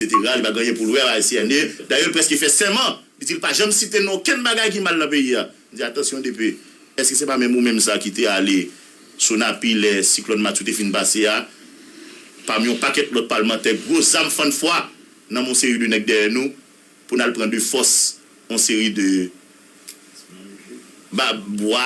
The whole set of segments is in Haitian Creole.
Setera, li pa gen anyen pou l wè ak Haitienne. Dayè l prèske fè sèman, li di l pa janm site non okenn bagay ki mal nan peyi a. M di, Atansyon DP, èske se pa menm ou menm sa ki te ale Sonapi lè siklòn Matthew te fin pase a, pami yon pakèt lòt palmantè, gwo zam fann fwa nan men yon seri de nèg dèyè nou, pou n al pran de fòs yon seri de bwa?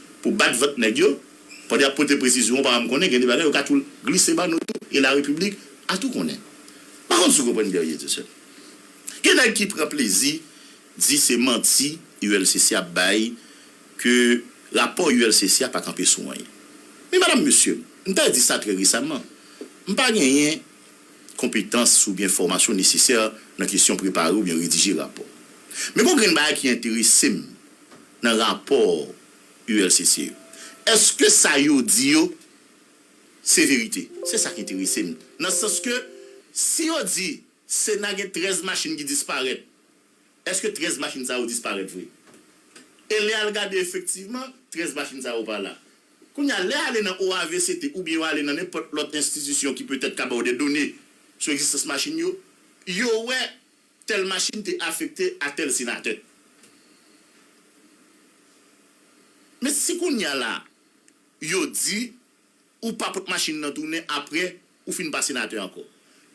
pou bat vant nèg yo, pandan y ap pote presizyon ou pa janm konnen gen de bagay yo ka tou glise ba nou tou e larepiblik a tou konnen. M pa konn si w konprann Guerrier tou sèl. Gen nèg ki pran plezi di se manti ULCC ap bay ke rapò ULCC a pa kanpe sou anyen. Men madam mesye, m ta di sa trè resaman, m pa genyen konpetans oubyen fòmasyon nesesè nan kesyon prepare oubyen redije rapò. Men gon grenn bagay ki enterese m. nan rapò ULCC yo. Eske sa yo di yo se verite? Se sa k enterese m. Nan sans ke si yo di Sena gen 13 machin ki disparèt, eske 13 machin sa yo disparèt vre? E lè y al gade efektivman 13 machin sa yo pa la. Kounye a, lè y ale nan OAVCT oubyen yo ale nan nenpòt lòt enstitisyon ki petèt ka ba w dè done sou egzistans machin yo, yo wè Tèl machin te afekte a tèl senatè. Men si kounya la yo di ou pa pot machin nan tounen aprè ou fin pa senatè ankò.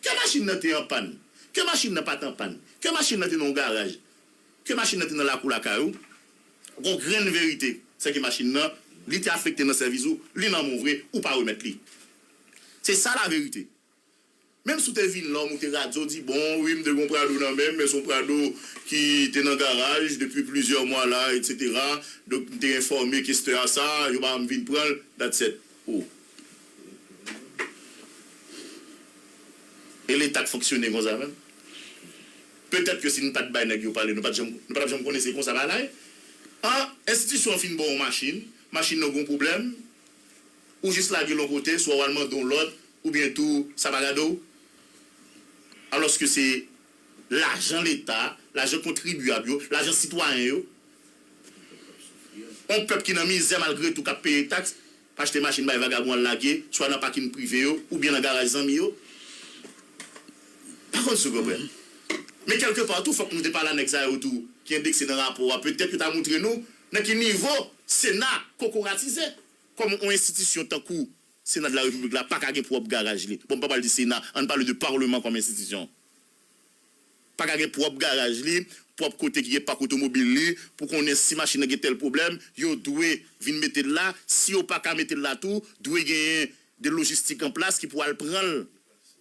Ke machin nan te anpàn, ke machin nan pat anpàn, ke machin nan te nan yon garaj, ke machin nan te nan lakou lakay ou, gon grenn verite se ke machin nan li te afekte nan sèvis ou, li nan men w vre, ou pa remèt li. Se sa laverite. Menm si w te vin lòm ou te radyo w di bon wi m te gen yon prado nan men m men se yon prado ki te nan garaj depi plizyè mwa la etc donk m te enfòme kestè a sa yo ba m vin pran l that's et ou e leta k fonksyone konsa menm petèt ke si n pat bay nèg yo pale nou pat janm nou patap janm konnen se konsa bagay an enstitisyon an fin ba w yon machin machin nan gen yon pwoblèm. Ou jis lage l on kote, swa w al mande on lòt, oubyen tou sa pa gade w. Alòske se lajan leta, lajan kontribyab yo, lajan sitwayen yo. On pèp ki nan mizè malgre tou k ap peye taks, p achte machin bay vagabon al lage, swa nan pakin prive yo, oubyen nan garaj zanmi yo. Pa konn si w konprann. Men kèlke pa tou fòk nou te pale a nèg sa yo tou ki endekse nan rapò a, petèt yo ta montre nou nan ki nivo Sena kokoratize. Kòm yon enstitisyon tankou Sena de la Repiblik la pa ka gen pwòp garaj li, bon m pa pral di Sena, ann pale de Parleman kòm enstitisyon, pa ka gen pwòp garaj li, pwòp kote ki gen pak otomobil li, pou konnen si machin nan gen tèl pwoblèm, yo dwe vin mete l la, si yo pa ka mete l la tou, dwe genyen de lojistik an plas ki pou al pran l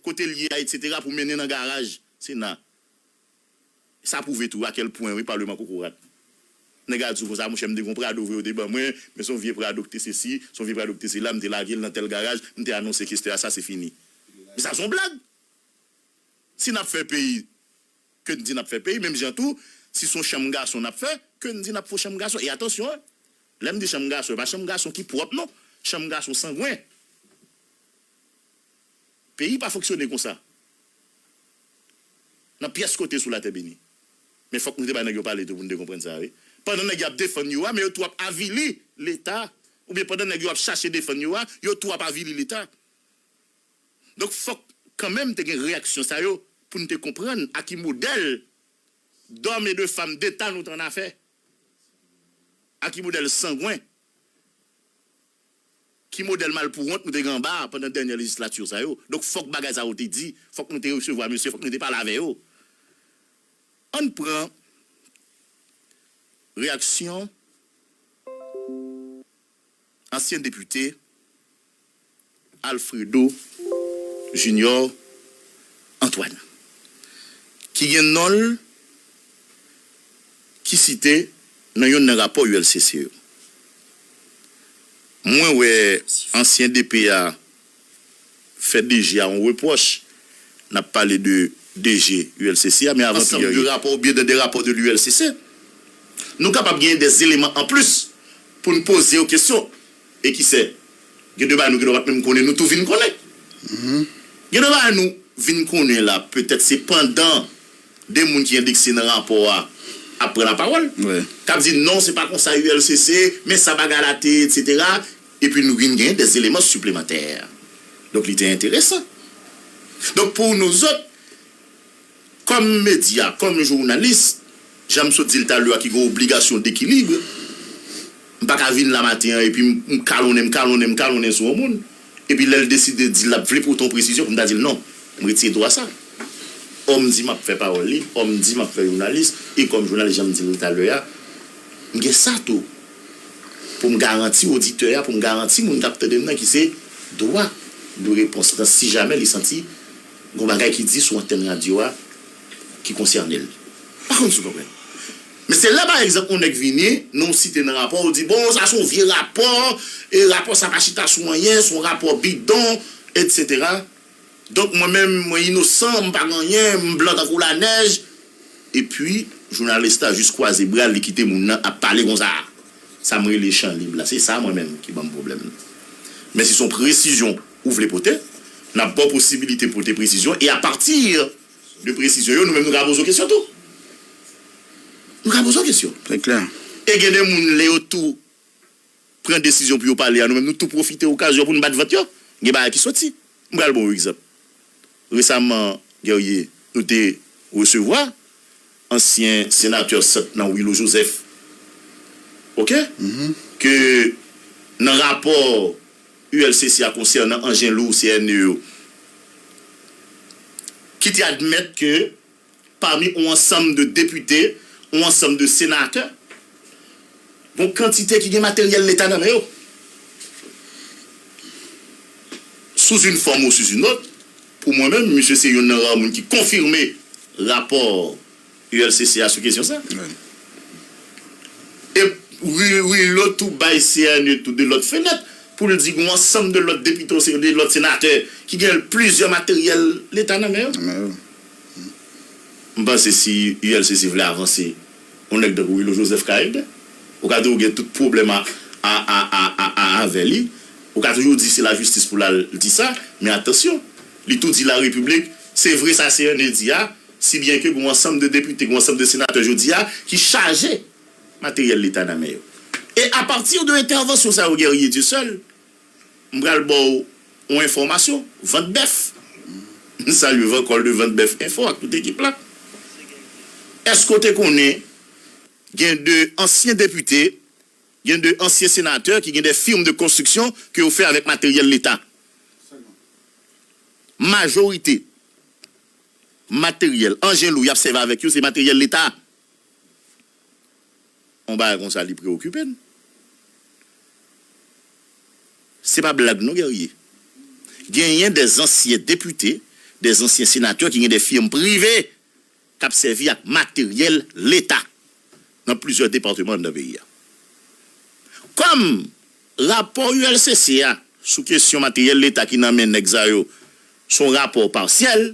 kote l ye a, etsetera, pou mennen nan garaj Sena. Sa prouve tou akel pwen wi parlement kokorat. Nèg la diw konsa monchè m te gon prado vre yo te ban mwen men son vye prado ki te sesi son vye prado ki te sela m te lagel nan tèl garaj m te anonse kestè a sa se fini men sa son blag si nap fè peyi ke n di nap fè peyi menm jan tou si son chanm gason nap fè ke n di nap fon chanm gason e atansyon hein lèm di chanm gason e pa chanm gason ki pwòp non chanm gason sangwen. Peyi pa fonksyone konsa nan pyès kote sou latè beni. Men fòk nou te bay nèg yon pale tou pou nou te konprann sa wi. Pandan nèg yo ap defann yo a men yo tou ap avili leta oubyen pandan nèg yo ap chache defann yo a yo tou ap avili leta. Donk fòk kanmenm te gen reyaksyon sa yo pou nou te konprann a ki modèl dòm e de fam deta nou t annafè. A ki modèl sangwen. Ki modèl malpouwont nou te gen anba a pandan dènyè lejislatur sa yo? Donk fòk bagay sa yo te di, fòk nou te resevwa mesye, fòk nou te pale avè yo. Ann pran reyaksyon ansyen depite Alfredo Junior Antoine ki gen non l ki site nan yonn nan rapò ULCC yo. Mwen wè ansyen DP a fè DG a yon repwòch, n ap pale de DG ULCC a, men avan tou yè yo. Ansanm de rapò oubyen de de rapò de l'ULCC, nou kapab genyen de eleman anplis pou n poze yo kesyon. E ki se, gen de bagay nou gendwa pa t menm konnen, nou tou vin konnen. Gen de bagay nou vin konnen la, petèt se pandan. 2 moun ki endekse nan rapò a ap pran lapawòl, k ap di non se pa konsa ULCC, men sa bagay la te ye, etsetera, epi nou vin gen dè eleman siplemantè. Donk li te enteresan. Donk pou nouzòt, kòm medya, kòm jounalis, jan m sot di l talè a ki gen obligasyon dekilibre, M pa ka vin la maten an epi m kalonnen, m kalonnen, m kalonnen sou yon moun, epi lè l deside di l ap vle pote yon presizyon pou m ta di l non. M retire dwa sa. Ò m di m ap fè pawòl lib, ò m di m ap fè jounalis, e kòm jounalis jan m di l talè a, m gen sa tou pou m garanti oditè a, pou m garanti moun k ap tande m nan ki se dwa de repons lan si jamè li santi gen yon bagay ki di sou antèn radyo a ki konsène l. M pa konn si w konprann. Men se lè pa egzanp yon nèg vini, non w site nan rapò, ou di bon sa se yon vye rapò, e rapò sa pa chita sou anyen, se yon rapò bidon, etc. Donk mwen menm mwen inosan, m pa gen anyen, m blan tankou lanèj. Epi jounalis la jis kwaze bra l, li kite moun nan ap pale konsa. Sa m rele chan lib la, se sa mwen menm ki ban m pwoblèm nan. Men si se yon presizyon ou vle pote, n ap ba w posibilite pote presizyon e apati. De presizyon yo, nou menm nou ka poze w kesyon tou. Nou ka poze w kesyon. Se klè. E gen de moun lè yo tou pran desizyon pou yo pale a, nou menm nou tou pwofite okazyon pou nou bat vant yo. Gen bagay ki soti. M pral ba w yon egzanp. Resaman, Guerrier, nou te resevwa Ansyen senatè sant nan Willo Joseph ok ke nan rapò ULCC a konsènan anjen lou CNE yo ki te admèt ke pami on ansanm de depite, on ansanm de senatè gon kantite ki gen materyèl leta nan men yo sous une forme ou sous une autre. Pou mwen menm, misye se yonn nan rare moun ki konfime rapò ULCC a sou kesyon sa. E Willow tou bay cne tou de lòt fenèt pou l di gen yon ansanm de lòt depite osnon de lòt senatè ki gen plizyè materyèl leta nan men yo. M panse si ULCC vle avanse. yon nèg tankou Wilou Joseph ka ede, ou ka di ou gen tout pwoblèm avè li, ou ka toujou di se lajistis pou l al di sa, men atansyon, li tou di larepiblik, se vre sa Cerne di a, si byen ke gen yon ansanm de depite, gen yon ansanm de senatè jodi a ki chaje materyèl leta nan men yo. E apati de entèvansyon sa yo Guerrier Dieuseul, M pral ba w yon enfòmasyon, vant bèf. M salye Vankòl de Vant Bèf Enfo ak tout ekip la. Èske w te konnen gen de ansyen depite, gen de ansyen senatè ki gen de firm de konstriksyon ke yo fè avèk materyèl leta? Majorite materyèl, anjen lou y ap sèvi avèk yo se materyèl leta. yon bagay konsa li preokipe n. Se pa blag non Guerrier. Genyen de zansyen depite, de zansyen senatè ki gen de firm prive k ap sèvi ak materyèl leta nan plizyè depateman anndan peyi a. Kòm rapò ULCC a sou kesyon materyèl leta ki nan men nèg sa yo s on rapò pasyèl,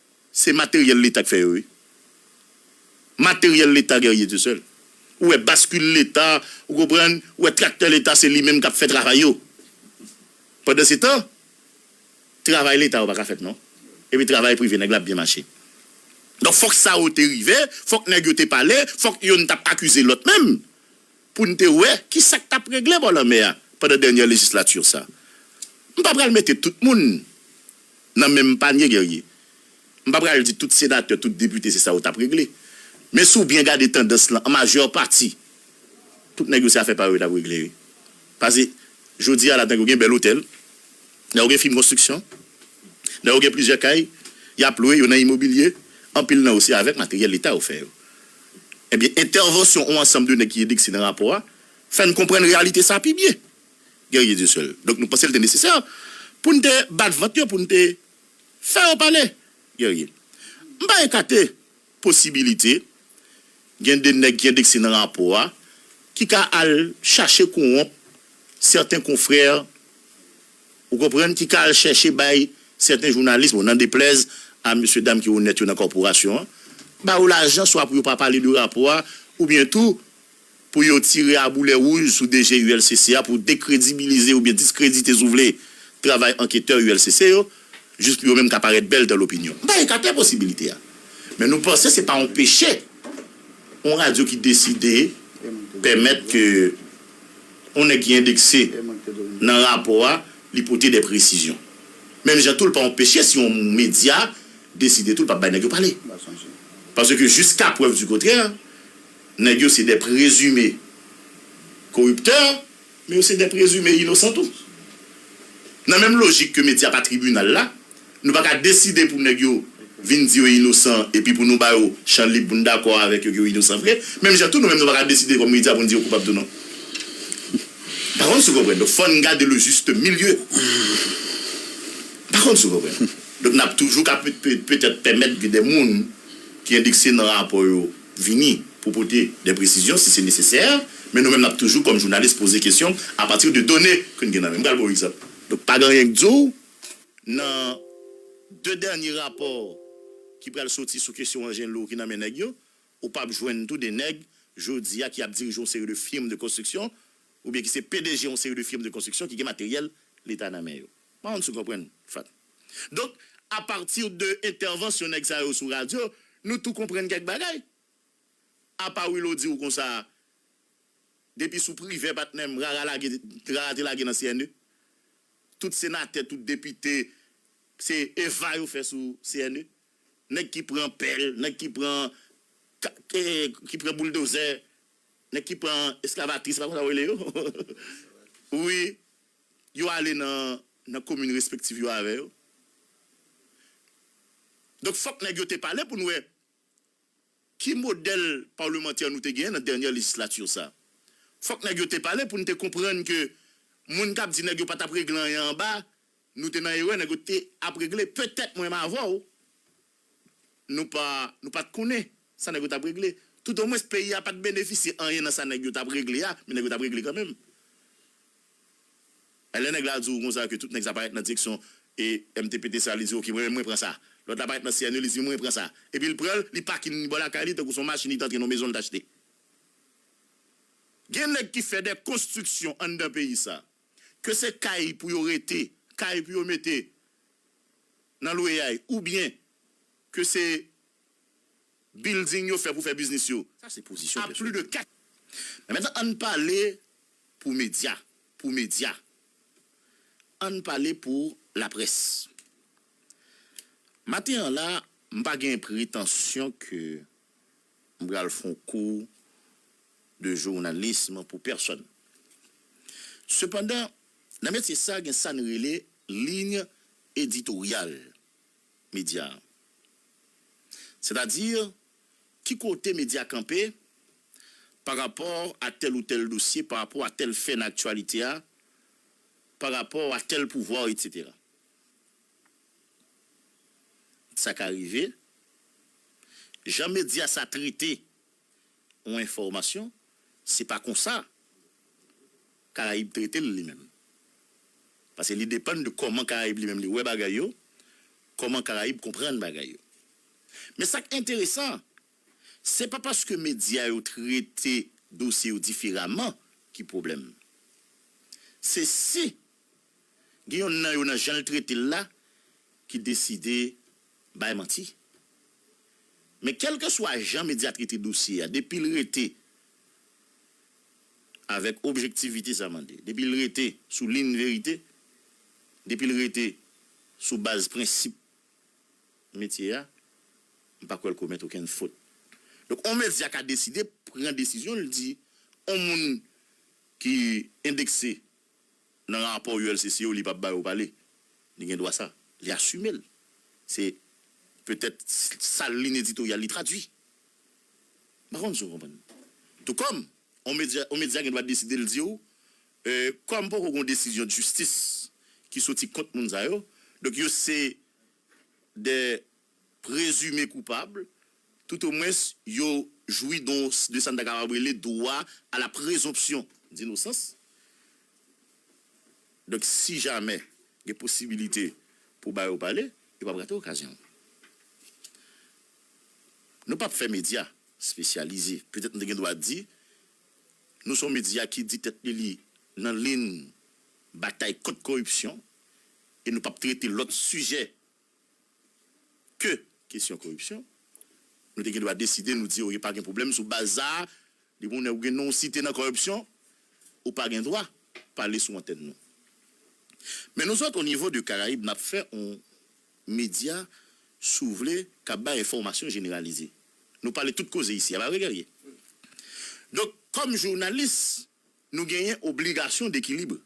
Se materyèl leta k fè yo wi. Materyèl leta guerrier tout seul. Ou wè baskil leta, ou konprann, ou wè traktè leta se li menm k ap fè travay yo. Pandansetan, travay leta yo pa ka fèt non. Epi travay prive nèg la ap byen mache. Donk fòk sa yo te rive, fòk nèg yo te pale, fòk yonn t ap akize lòt menm. pou n te wè ki sa k t ap regle bò lanmè a pandan dènyè lejislati sa a. M pa pral mete tout moun nan menm panye, Guerrier. M pa pral di tout senatè, tout depite se sa yo t ap regle. Men si w byen gade tandans lan, an majè pati, tout nèg yo se afè pa yo yo t ap regle wi. Pase jodi a la tankou gen bèl otèl. Lè ou gen fim konstriksyon, lè ou gen plizyè kay, y ap lwe yo nan imobilye, anpil nan yo se avèk materyèl Leta yo fè yo. Ebyen, entèvansyon on ansanm de nèg ki edekse nan rapò a fè n konprann reyalite sa a pi byen. Guerrier Dieuseul, Donk nou panse l te nesesè pou n te bat vant yo, pou n te fè yo pale? Guerrier, M pa ekate posibilite gen de nèg ki endekse nan rapò a ki ka al chache konwonp sèten konfrè, ou konprann, ki ka al chèche bay sèten jounalis, bon nan deplèz a mesye dam ki onèt yo nan kòporasyon an, ba yo lajan swa pou yo pa pale de rapò a oubyen tou. pou yo tire a boulè wouj sou DG ULCC a pou dekredibilize oubyen diskredite si w vle travay anketè ULCC yo, jis pou yo menm ka parèt bèl dan lopinyon. M pa ekate posibilite a. Men nou panse se pa yon peche yon radyo ki deside pèmèt ke yon nèg ki endekse nan rapò a li pote dè presizyon. Menm jan tou l pa yon peche si yon medya deside tou l pa p bay nèg yo pale. Paske jiska prèv di kontrè, Nèg yo se dè prezime koriptè, men yo se dè prezime inosan tou. Nan menm lojik ke medya pa tribinal la, nou pa ka deside pou nèg yo vin di yo inosan epi pou nou ba yo chan lib pou nou dakò avèk yo ke yo inosan vre, menm jan tou nou menm nou pa ka deside kòm medya pou nou di yo koupab tou non. M pa konn si w konprann. Donk fò n gade le juste milieu. M pa konn si w konprann. Donk n ap toujou ka petèt pèmèt gen dè moun ki endekse nan rapò yo. vini pou pote de presizyon si se nesesè, men nou menm nap toujou kòm jounalis poze kesyon a pati de done ke n gen nan men. M pral ba w egzanp. Donk pa gen anyen k di w nan de dènye rapò ki pral soti sou kesyon Angello ki nan men nèg yo, ou pap jwenn tou de nèg jodi a ki ap dirije yon seri de firm de konstriksyon oubyen ki se pdg yon seri de firm de konstriksyon ki gen materyèl leta nan men yo. Pa konn si w konprann, Fatt. Donk, a pati de entèvansyon nèg sa yo sou radyo, nou tou konprann kèk bagay. Apa Willow di ou konsa a, depi sou Privè patnè m, rara lage, rara te lage nan CNE. Tout senatè, tout depite, se eva yo fè sou CNE. Nèg ki pran pèl, nèg ki pran ka, ke, ki pran bouldozè, nèg ki pran eskavatris, se pa konsa yo rele yo? Wi. Yo ale nan nan komin respektiv yo avè yo. Donk fòk nèg yo te pale pou n wè ki modèl palmantè nou te genyen nan dènyè lejislati sa. Fòk nèg yo te pale pou n te konprann ke moun k ap di nèg yo pa t ap regle anyen anba, nou te nan erè nèg yo te ap regle. Petèt mwen m avè w. Nou pa nou pat konnen sa nèg yo tap regle tout o mwens peyi a pat benefisye anyen nan sa nèg yo tap regle a men nèg yo tap regle kan menm men lè nèg la di w konsa ke tout nèg sa parèt nan direksyon e mtptca li di ok mwen menm mwen pran sa lòt la parèt nan CNE li di mwen pran sa epi l pran l li pakin li bò lakay li tankou son machin li t antre nan yon mezon li t achte gen nèg ki fè dè konstriksyon anndan peyi sa a. ke se kay pou yo rete, kay pou yo mete nan lweyay oubyen ke se bilding yo fè pou fè biznis yo, sa se pozisyon pèsonèl. Men mentnan ann pale pou medya, pou medya, ann pale pou laprès. Maten an la, m pa gen pretansyon ke M pral fon kou de journalisme pou pèsòn. Sepandan, nan metye sa gen sa n rele liy editoryal medya a. Sètadi, ki kote medya kanpe pa rapò a tèl ou tèl dosye, pa rapò a tèl fè nan aktyalite a, pa rapò a tèl pouvwa, etc. Sa ka rive, jan medya sa trete yon enfòmasyon, se pa konsa Karayib trete l li menm. Pase li depann de kòman Karayib li menm li wè bagay yo, kòman Karayib konprann bagay yo. Men sa k enteresan, se pa paske medya yo trete dosye yo diferaman ki pwoblèm. Se si. Gen yonn nan yo nan jan l trete l la ki deside bay manti. Men kèlkeswa jan medya trete dosye a depi l rete avèk objektivite sa mande, depi l rete sou liyn verite, depi l rete sou baz prensip metye a, m pa kwè l komèt okenn fot. Donk on medya ka deside pran desizyon l di on moun ki endekse Nan rapò ULCC yo li pa ba yo pale. Li gen dwa sa. Li asime l. Se petèt sa l li n editoryal li tradui. M pa konn si w konprann. Tou kòm yon medya yon medya gen dwa deside l di w kòm poko gen yon desizyon jistis ki soti kont moun sa yo donk yo se 2. prezime koupab, toutomwens yo jwi don de sa n ta kapab rele dwa a la prezonpsyon dinosans. Donk, si jamè gen posibilite pou ba yo pale, yo pap rate okazyon an. Nou pap fè medya espesyalize, petèt nou te gen dwa di, nou se yon medya ki di tèt li li nan lin batay kont koripsyon e nou pap trete lòt sijè ke kesyon koripsyon, nou te gen dwa deside nou di ok pa gen pwoblèm sou baz sa a, depi yon nèg ou gen non w site nan koripsyon, ou pa gen dwa pale sou antèn nou. Men nou zòt o nivo de Karayib nap fè yon medya si w vle kap bay enfòmasyon jeneralize. Nou pale tout koze isi a pa vre Guerrier? Donk kòm jounalis Nou genyen obligasyon dekilibre.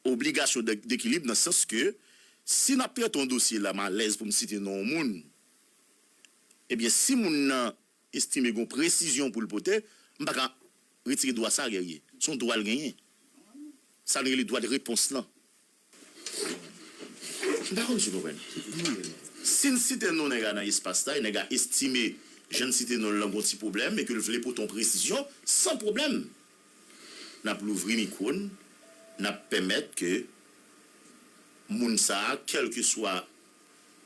Obligasyon dekilibre nan sans ke si nap trete yon dosye la malèz pou m site non yon moun, ebyen si moun nan estime gen yon presizyon pou l pote, m pa ka retire dwa sa Guerrier. Se yon dwa l genyen. Sa nou rele dwa de repons lan. M pa konn si w konprann. Si n site non nèg la nan espas la e nèg la estime jan n site non l lan gen yon ti pwoblèm e ke l vle pote yon presizyon, san pwoblèm n ap louvri mikwo n, n ap pèmèt ke moun sa a kèlkeswa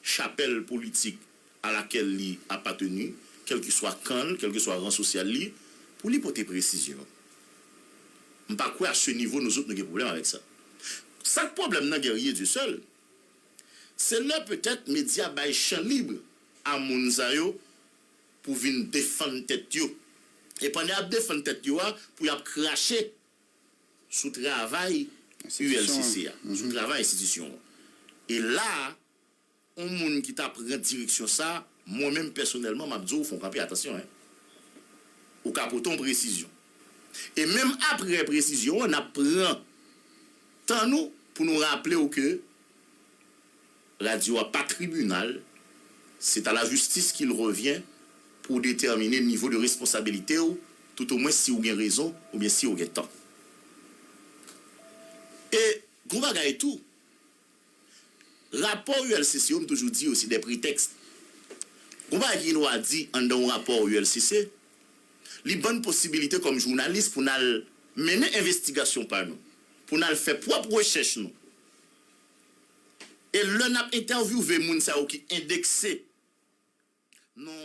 chapèl politik a lakèl li apateni, kèlkeswa kan l, kèlkeswa ran sosyal li, pou li pote presizyon. M pa kwè a se nivo nouzot nou gen pwoblèm avèk sa. Sa k pwoblèm nan Guerrier Dieu seul, se lè petèt medya bay chan lib a moun sa yo pou vin defann tèt yo, e pandan y ap defann tèt yo a, pou y ap krache sou travay ULCC a, sou travay enstitisyon an. E la a. On moun ki ta pran direksyon sa, mwen menm pèsonèlman map di w fon kanpe atansyon hein. Ou ka pote on presizyon. E menm aprè presizyon an nap pran tan nou pou nou raple w ke radyo a pa tribinal, c'est à la justice qu'il revient pou detèmine nivo de responsabilite w tout o mwen si w gen rezon oubyen si w gen tò. E gon bagay tou. Rapò ULCC yo m toujou di yo se de pretèks. Gon bagay ki gen dwa di anndan yon rapò ULCC, li ban n posibilite kòm jounalis pou n al mennen envestigasyon pa nou, pou n al fè pwòp rechèch nou. E lè n ap entèvyouve moun sa yo ki endekse nan.